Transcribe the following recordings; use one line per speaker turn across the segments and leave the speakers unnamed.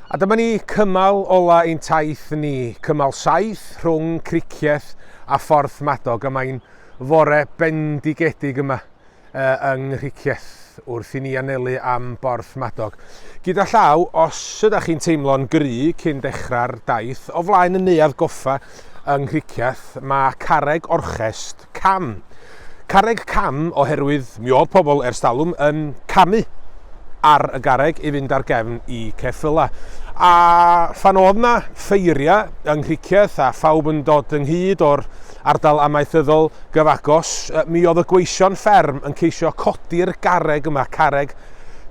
A dyma ni, cymal ola ein taith ni, cymal saith rhwng Cricieth a Phorth Madog, a mae'n fore bendigedig yma uh, yng Nghricieth wrth i ni anelu am Borth Madog. Gyda llaw, os ydych chi'n teimlo'n gry cyn dechrau'r daith, o flaen y neuadd goffa, Yng Nghricieth mae carreg orchest cam. Carreg cam oherwydd mi oedd pobl ers talwm yn camu ar y garreg i fynd ar gefn i ceffyla. A phan oedd na ffeiriau yng Nghricieth a phawb yn dod ynghyd o'r ardal amaethyddol gyfagos, mi oedd y gweision fferm yn ceisio codi'r garreg yma, carreg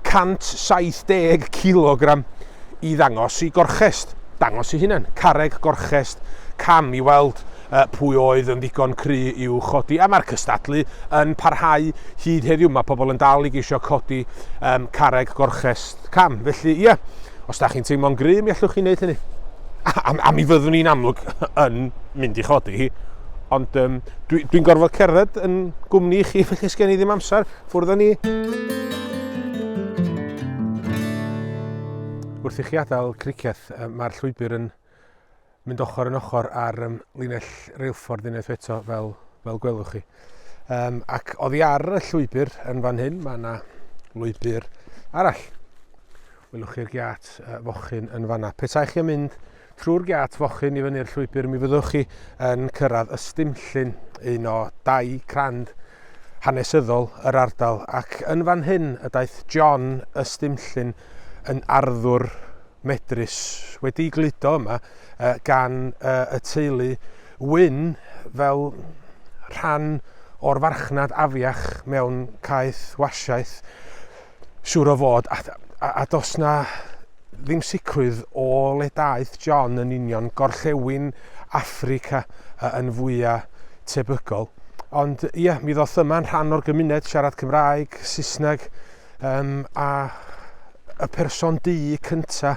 170 cilogram i ddangos i Gorchest, dangos i hunan, carreg Gorchest, cam i weld pwy oedd yn ddigon cry i'w chodi, a mae'r cystadlu yn parhau hyd heddiw. Mae pobl yn dal i geisio codi um, carreg Gorchest cam. Felly, ie, os da chi'n teimlo'n gry, mi allwch chi wneud hynny. A, a, a mi fyddwn ni'n amlwg yn mynd i chodi hi. Ond um, dwi'n dwi gorfod cerdded yn gwmni i chi, felly sgen i ddim amser. Ffwrdd â ni! Wrth i chi adael Cricieth, mae'r llwybr yn mynd ochr yn ochr ar um, linell reilffordd unwaith eto fel, fel gwelwch chi. Um, ac oddi ar y llwybr yn fan hyn, mae yna lwybr arall. Welwch chi'r giat uh, fochyn yn fanna. Petai chi yn mynd Trwy'r giât fochyn i fyny'r llwybr mi fyddwch chi yn cyrraedd Ystumllyn, un o dai crand hanesyddol yr ardal, ac yn fan hyn y daeth John Ystumllyn yn arddwr medrus, wedi'i gludo yma gan y teulu Wyn fel rhan o'r farchnad afiach mewn caeth wasiaeth. siŵr o fod, a, a, a dos na ddim sicrwydd o le daeth John yn union, gorllewin Affrica yn fwyaf tebygol. Ond ie, yeah, mi ddoth yma'n rhan o'r gymuned siarad Cymraeg, Saesneg, um, a y person du cynta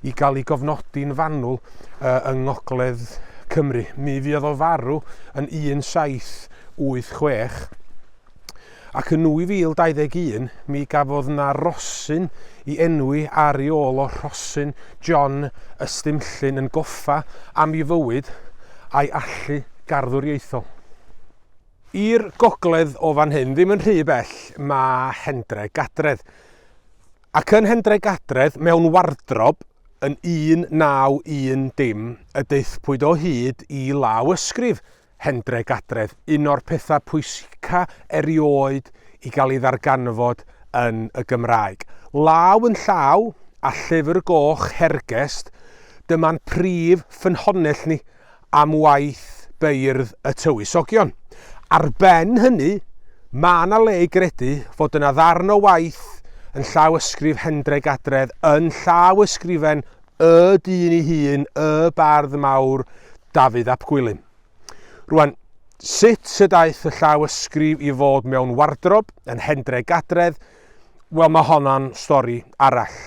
i gael ei gofnodi'n fanwl uh, yng Ngogledd Cymru. Mi fuodd o farw yn 1786 Ac yn 2021, mi gafodd 'na Rosyn i enwi ar ei ôl o Rhosyn John Ystumllyn yn goffa am ei fywyd a'i allu garddwriaethol. I'r gogledd o fan hyn, ddim yn rhy bell, mae Hendre Gadredd. Ac yn Hendre Gadredd, mewn wardrob, yn 1910 y daethpwyd o hyd i law ysgrif Hendreg adref, un o'r pethau pwysica erioed i gael ei ddarganfod yn y Gymraeg. Law yn llaw â Llyfr Goch Hergest, dyma'n prif ffynhonnell ni am waith beirdd y Tywysogion. Ar ben hynny, mae yna le i gredu fod yna ddarn o waith yn llawysgrif Hendreg adref, yn llawysgrifen y dyn ei hun, y bardd mawr, Dafydd ap Gwilym. Rwan, sut y daeth y llawysgrif i fod mewn wardrob yn Hendre Gadredd, wel mae honna'n stori arall.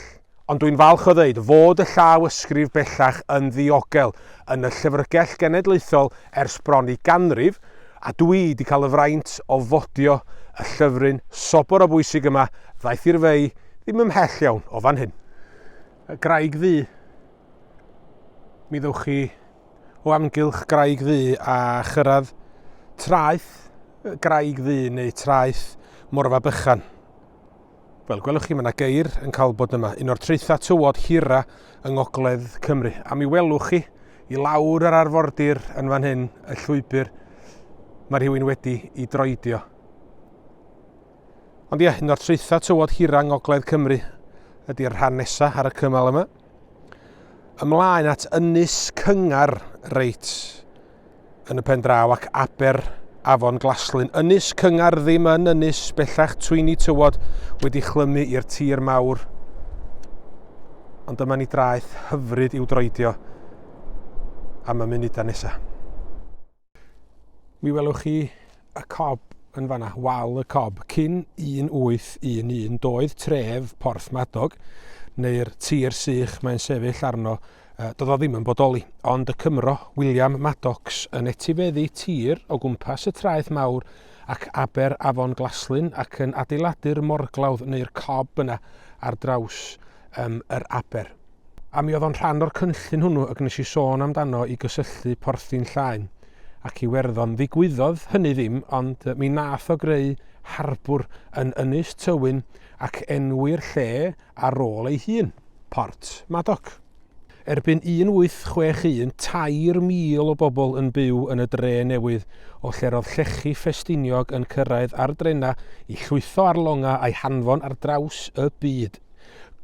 Ond dwi'n falch o ddeud fod y llawysgrif bellach yn ddiogel yn y Llyfrgell Genedlaethol ers bron i ganrif, a dwi 'di cael y fraint o fodio y llyfryn sobor a bwysig yma ddaeth i'r fei ddim ymhell iawn o fan hyn. Graig Ddu. Mi ddewch chi o amgylch graig ddu a chyrraedd traeth graig ddu neu traeth morfa bychan. Wel, gwelwch chi, mae yna geir yn cael bod yma, un o'r traethau tywod hira yng ngogledd Cymru. A mi welwch chi, i lawr yr arfordir yn fan hyn, y llwybr, mae rhywun wedi i droedio. Ond ie, un o'r traethau tywod hira yng Ngogledd Cymru ydy'r rhan nesaf ar y cymal yma. Ymlaen at Ynys Cyngar reit yn y pen draw ac Aber Afon Glaslyn. Ynys Cyngar ddim yn ynys bellach twyni tywod wedi chlymu i'r tir mawr. Ond dyma ni draeth hyfryd i'w droedio am y munudau nesaf. Mi welwch chi y cob yn fanna, wal y cob. Cyn 1811 doedd tref Porthmadog, neu'r tir sych mae'n sefyll arno, doedd o ddim yn bodoli, ond y Cymro William Maddox yn etifeddu tir o gwmpas y traeth mawr ac aber afon Glaslyn ac yn adeiladu'r morglawdd neu'r cob yna ar draws um, yr aber. A mi oedd o'n rhan o'r cynllun hwnnw y gwnes i sôn amdano i gysylltu Porthi'n Llaen ac Iwerddon. Ddigwyddodd hynny ddim, ond mi nath o greu harbwr yn Ynys Tywyn ac enwi'r lle ar ôl ei hun, Port Madoc. Erbyn 1861, 3,000 o bobl yn byw yn y dre newydd, o lle'r oedd llechi Ffestiniog yn cyrraedd ar drenau i llwytho ar longau a'u hanfon ar draws y byd.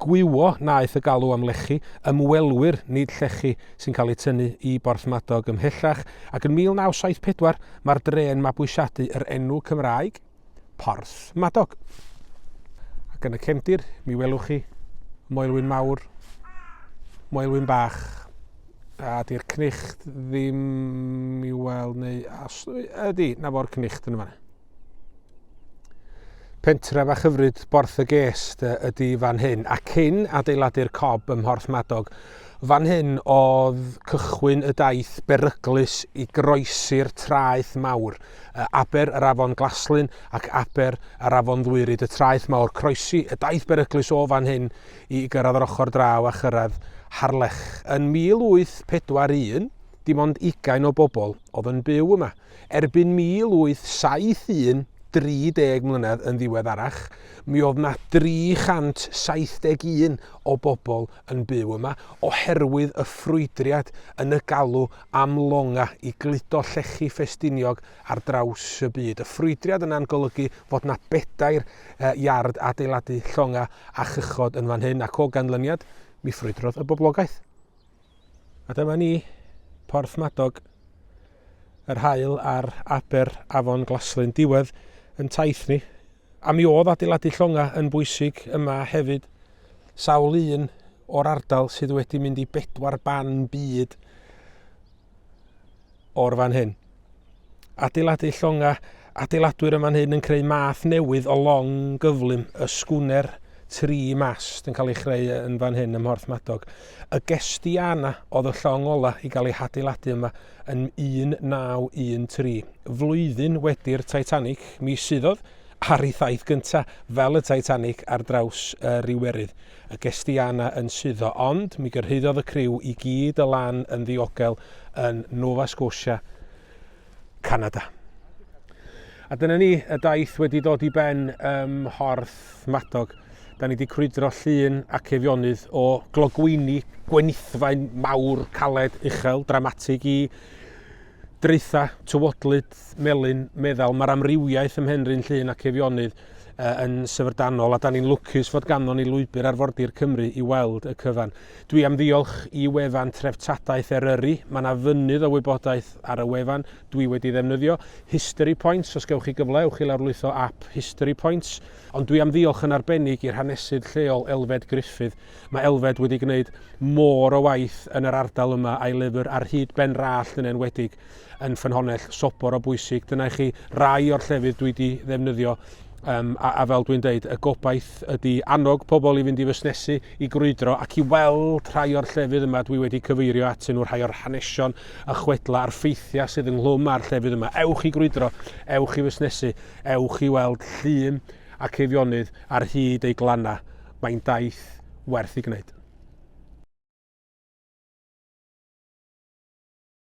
Gwywo wnaeth y galw am lechi ymwelwyr, nid llechi sy'n cael eu tynnu i Borthmadog ymhellach, ac yn 1974 mae'r dre'n mabwysiadu yr enw Cymraeg, Porth Madog. Ac yn y cefndir, mi welwch chi Moelwyn Mawr, Moelwyn Bach, a di'r cnicht ddim i weld neu... Ydy, na fo'r cnicht yn y fan. Pentref a chyfryd Borth y Gest ydy fan hyn, a cyn adeiladu'r cob ym Mhorth Madog, fan hyn oedd cychwyn y daith beryglus i groesi'r traeth mawr, aber yr afon Glaslyn ac aber yr afon Ddwyryd, y traeth mawr, croesi y daith beryglus o fan hyn i gyrraedd yr ochr draw a chyrraedd Harlech. Yn 1841, dim ond ugain o bobl oedd yn byw yma. Erbyn 1871, 30 mlynedd yn ddiweddarach, mi oedd 'na 371 o bobl yn byw yma oherwydd y ffrwydriad yn y galw am longa i gludo llechi Ffestiniog ar draws y byd. Y ffrwydriad yna'n golygu fod 'na bedair iard adeiladu llonga a chychod yn fan hyn, ac o ganlyniad, mi ffrwydrodd y boblogaeth. A dyma ni, Porthmadog. Yr haul ar aber afon Glaslyn diwedd yn taith ni. A mi oedd adeiladu llonga yn bwysig yma hefyd. Sawl un o'r ardal sydd wedi mynd i bedwar ban byd. o'r fan hyn. Adeiladu llonga adeiladwyr y fan hyn yn creu math newydd o long gyflym, y sgwner tri mast yn cael ei chreu yn fan hyn ym Mhorth Madog. Y gestiana oedd y llong ola i gael ei hadeiladu yma yn 1913, flwyddyn wedi'r Titanic, mis suddodd, ar ei thaith gyntaf fel y Titanic ar draws yr Iwerydd, y Gestiana yn suddo, ond mi gyrhaeddodd y criw i gyd y lan yn ddiogel yn Nova Scotia, Canada. A dyna ni, y daith wedi dod i ben ym Mhorth Madog. Da ni wedi crwydro llun ac efionydd o glogwyni gwenithfaen mawr, caled, uchel, dramatig i draethau, tywodlyd, melyn, meddal. Mae'r amrywiaeth ym Mhenrhyn Llŷn ac Eifionydd uh, yn syfrdanol a da ni'n lwcus fod ganddon ni lwybr arfordir Cymru i weld y cyfan. Dwi am ddiolch i wefan Treftadaeth Eryri, mae yna fynydd o wybodaeth ar y wefan, dwi wedi ddefnyddio History Points, os gewch chi gyfle, ewch i lawrlwytho app History Points, ond dwi am ddiolch yn arbennig i'r hanesydd lleol Elfed Griffith, Mae Elfed wedi gwneud môr o waith yn yr ardal yma a'i lyfr Ar Hyd Ben Rallt yn enwedig yn ffynhonnell sobor o bwysig. Dyna i chi rai o'r llefydd dwi wedi ddefnyddio um, a, a fel dwi'n deud, y gobaith ydy annog pobl i fynd i fusnesu, i grwydro ac i weld rhai o'r llefydd yma dwi wedi cyfeirio atyn nhw, rhai o'r hanesion, y chwedlau a'r ffeithiau sydd ynghlwm â'r llefydd yma. Ewch i grwydro, ewch i fusnesu, ewch i weld llun ac eifionydd ar hyd ei glannau. mae'n daith werth ei gwneud.